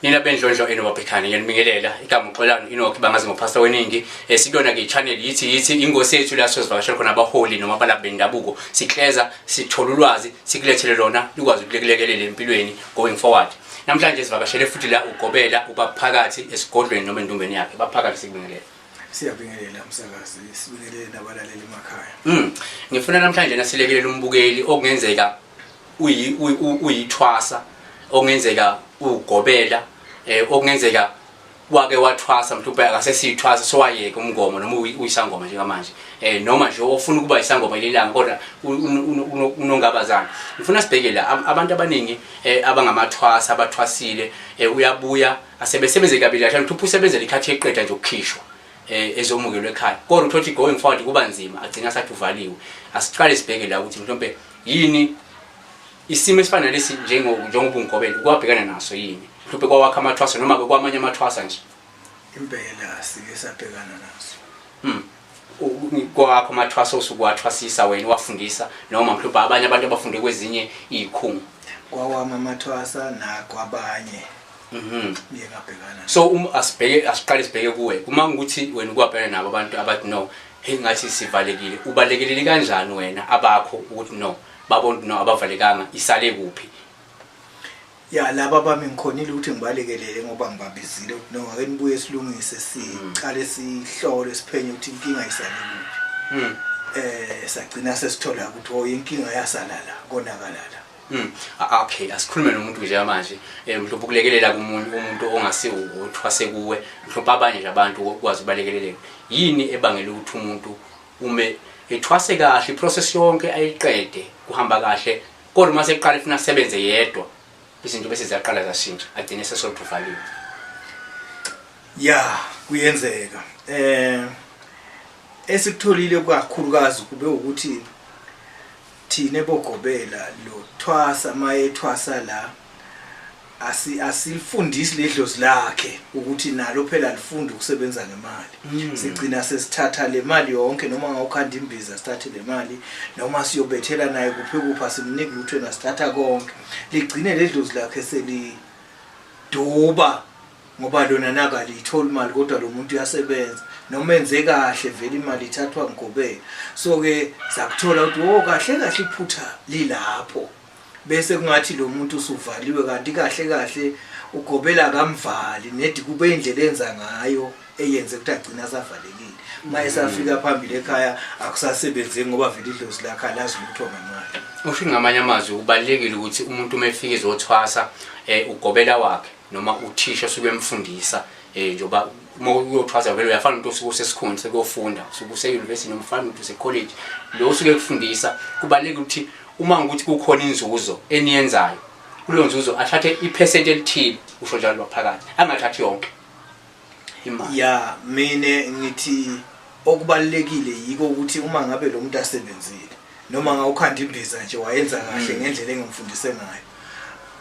nina bendlondlo enobabhekane ngiyanibingelela igama uxolani inokhi bangazi ngophasta weningi eh, sikuyona ke channel yithi yithi ingosi yethu la sozivakashela khona abaholi noma abalaphi bendabuko sikleza sithola ulwazi sikulethele lona likwazi ukulekelekele empilweni going forward namhlanje sivakashele futhi la ugobela ubaphakathi esigodlweni noma endumbeni yakhe baphakathi sikubingelela siyabingelela msakazi sibingelele nabalaleli emakhaya mm ngifuna namhlanje nasilekelela umbukeli okungenzeka uyithwasa okungenzeka ugobela eh, okungenzeka wake wathwasa mhlawumbe akasesiyithwasa sowayeka umngomo noma uyisangoma njengamanje eh noma nje ofuna ukuba yisangoma lelanga kodwa unongabazana ngifuna sibheke la abantu abaningi eh, abangamathwasa abathwasile eh, uyabuya asebesebenze kabili kahle mhlawumbe usebenzele ikhathi eqeda nje ukukhishwa eh, ezomukelwe ekhaya kodwa uthothi going forward kuba nzima agcina sathi uvaliwe asiqale sibheke la ukuthi mhlawumbe yini isimo esifana lesi njengobungobele ukwabhekana naso yini mhlawumbe kwawakha amathwasa noma-ke kwamanye amathwasa nje impela sike sabhekana naso hmm. kwakho amathwasa osukuwathwasisa wena wafundisa noma mhlawumbe abanye abantu abafunde kwezinye iy'khungo kwawami amathwasa nakwabanye mhm. so um, asibheke asiqale sibheke kuwe uma ngukuthi wena ukwabhekana nabo abantu abathi no Hey ngathi sivalekile. Ubalekelele kanjani wena abakho ukuthi no babona ukuthi no abavalekanga isale kuphi? Ya laba bami ngikhonile ukuthi ngibalekelele ngoba ngibabizile ukuthi no ake nibuye silungise siqale sihlole siphenye ukuthi inkinga isale kuphi. Mm. Eh sagcina sesithola ukuthi oh inkinga yasalala konakalala. Mm. Okay, asikhulume nomuntu nje manje. Eh mhlophe ukulekelela kumuntu umuntu ongasiwo uthwase kuwe, mhlophe abanye nje abantu ukwazi ubalekeleleka. Yini ebangela ukuthi umuntu ume ethwase kahle iprocess yonke ayiqede kuhamba kahle kodwa uma seqala ifuna sebenze yedwa izinto bese ziyaqala zashintsha agcine sesolutuvaliwe. Yeah, kuyenzeka. Eh esikutholile kakhulukazi kube ukuthi Thina bogobela lo thwasa maye thwasa la asi asilifundisi ledlozi lakhe ukuthi nalo phela lifunde ukusebenza ngemali mm. sigcina sesithatha le mali yonke noma ngawukhanda imbiza sithathe le mali noma siyobethela naye kuphi kuphi asimniki lutho nasithatha konke ligcine ledlozi lakhe seliduba ngoba lona naka liyithola imali kodwa lo muntu uyasebenza noma enze kahle vele imali ithathwa ngigobela so-ke sakuthola ukuthi wo oh, kahle kahle iphutha lilapho bese kungathi lo muntu usuvaliwe kanti kahle kahle ugobela kamvali nedi kube indlela enza ngayo eyenze ukuthi agcina asavalekile uma esafika mm. phambili ekhaya akusasebenzi ngoba vele idlozi lakhe alazi lutho ngemali usho ngamanye amazwi kubalekile ukuthi umuntu uma efika ezothwasa eh ugobela wakhe noma uthisha osuke emfundisa eh njoba uma uyothwaza vele uyafana umuntu osuke usesikhona sekuyofunda usuke use-university noma ufana umuntu use-college lo usuke ekufundisa kubalulekile ukuthi uma ngikuthi kukhona inzuzo eniyenzayo kuleyo nzuzo athathe iphesenti elithile usho njalo lwaphakathi angathathi yonke imali ya mina ngithi okubalekile yiko ukuthi uma ngabe lo muntu asebenzile noma ngawukhanda imbiza nje wayenza kahle mm. ngendlela engimfundise ngayo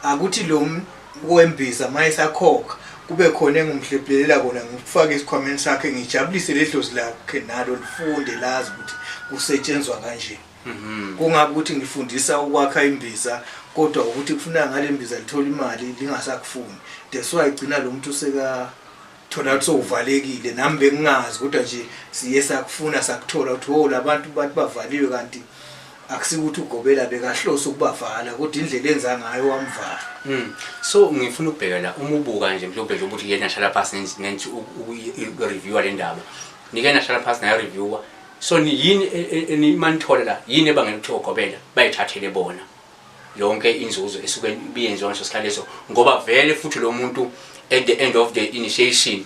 akuthi lo wembiza mayesakhokha kube khona engumhlephelela kona ngikufake esikhwameni sakhe ngijabulise ledlozi lakhe nalo lifunde lazi ukuthi kusetshenzwa kanjeni Mhm. Kungabe ukuthi ngifundisa ukwakha imbiza kodwa ukuthi kufuneka ngale mbiza lithola imali lingasakufuni. That's why igcina lo muntu seka thola ukuthi sowuvalekile nami bengingazi kodwa nje siye sakufuna sakuthola ukuthi wo labantu bathi bavaliwe kanti akusikuthi ugobela bekahlose ukubavala kodwa indlela enza ngayo wamvala Mm. So ngifuna ukubheka la uma ubuka nje mhlawumbe nje ukuthi yena shala phansi nenzi- nenzi u- u- i- i- reviewer le ndaba. Nike nahlala phansi nayo reviewer so ni- yini e- e- e- ni- manithola la yini ebangela ukuthi ogobela bayithathele bona yonke inzuzo esuke ibiyenziwa ngaso sikhathi leso ngoba vele futhi lo muntu at the end of the initiation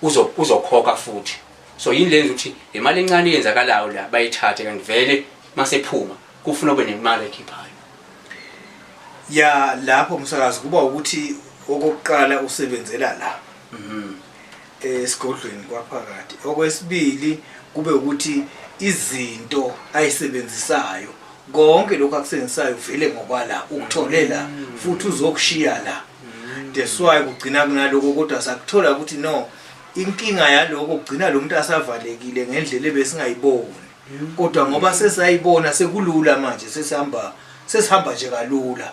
uzo- uzokhokha futhi so yini lenza ukuthi le mali encane eyenzakalayo la bayithathe kanti vele masephuma kufuna kube nemali ekhiphayo ya lapho msakazi kuba ukuthi okokuqala usebenzela la esigodlweni kwaphakathi okwesibili kube ukuthi izinto ayisebenzisayo konke lokho akusenzisayo vele ngokwala ukutholela mm. futhi uzokushiya la mm. that's why kugcina kunaloko kodwa sakuthola ukuthi no inkinga yaloko kugcina lo muntu asavalekile ngendlela ebesingayiboni mm. kodwa ngoba sesayibona sekulula manje sesihamba sesihamba nje kalula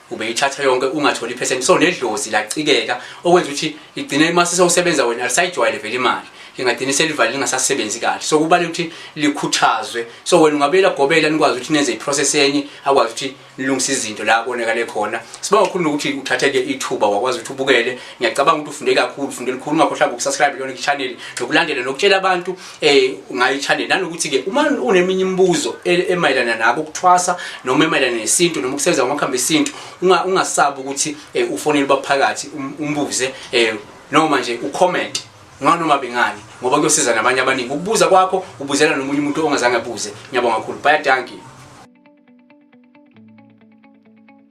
ubeyithatha yonke ungatholi iphesenti so nedlozi lacikeka okwenza ukuthi igcine uma sesewusebenza wena alisayijwayele vele imali lingagcine selivale lingasasebenzi kahle so kubalula ukuthi likhuthazwe so wena ungabuyela gobela nikwazi ukuthi nenze iprocess enye akwazi ukuthi nilungise izinto la konakale khona sibonga kakhulu nokuthi uthatheke ithuba wakwazi ukuthi ubukele ngiyacabanga ukuthi ufunde kakhulu ufunde likhulu ungakhohlanga ukusubscribe lona ichannel nokulandela nokutshela abantu eh ungayithanda nanokuthi ke uma uneminye imibuzo e-, emayelana nako ukuthwasa noma emayelana nesintu noma ukusebenza kwamakhambi esintu ungasabi ukuthi eh, ufonele baphakathi um-, umbuze eh, noma nje ucomment nganoma bengani ngoba kuyosiza nabanye abaningi ukubuza kwakho ubuzela nomunye umuntu ongazange abuze ngiyabonga kakhulu bye dankie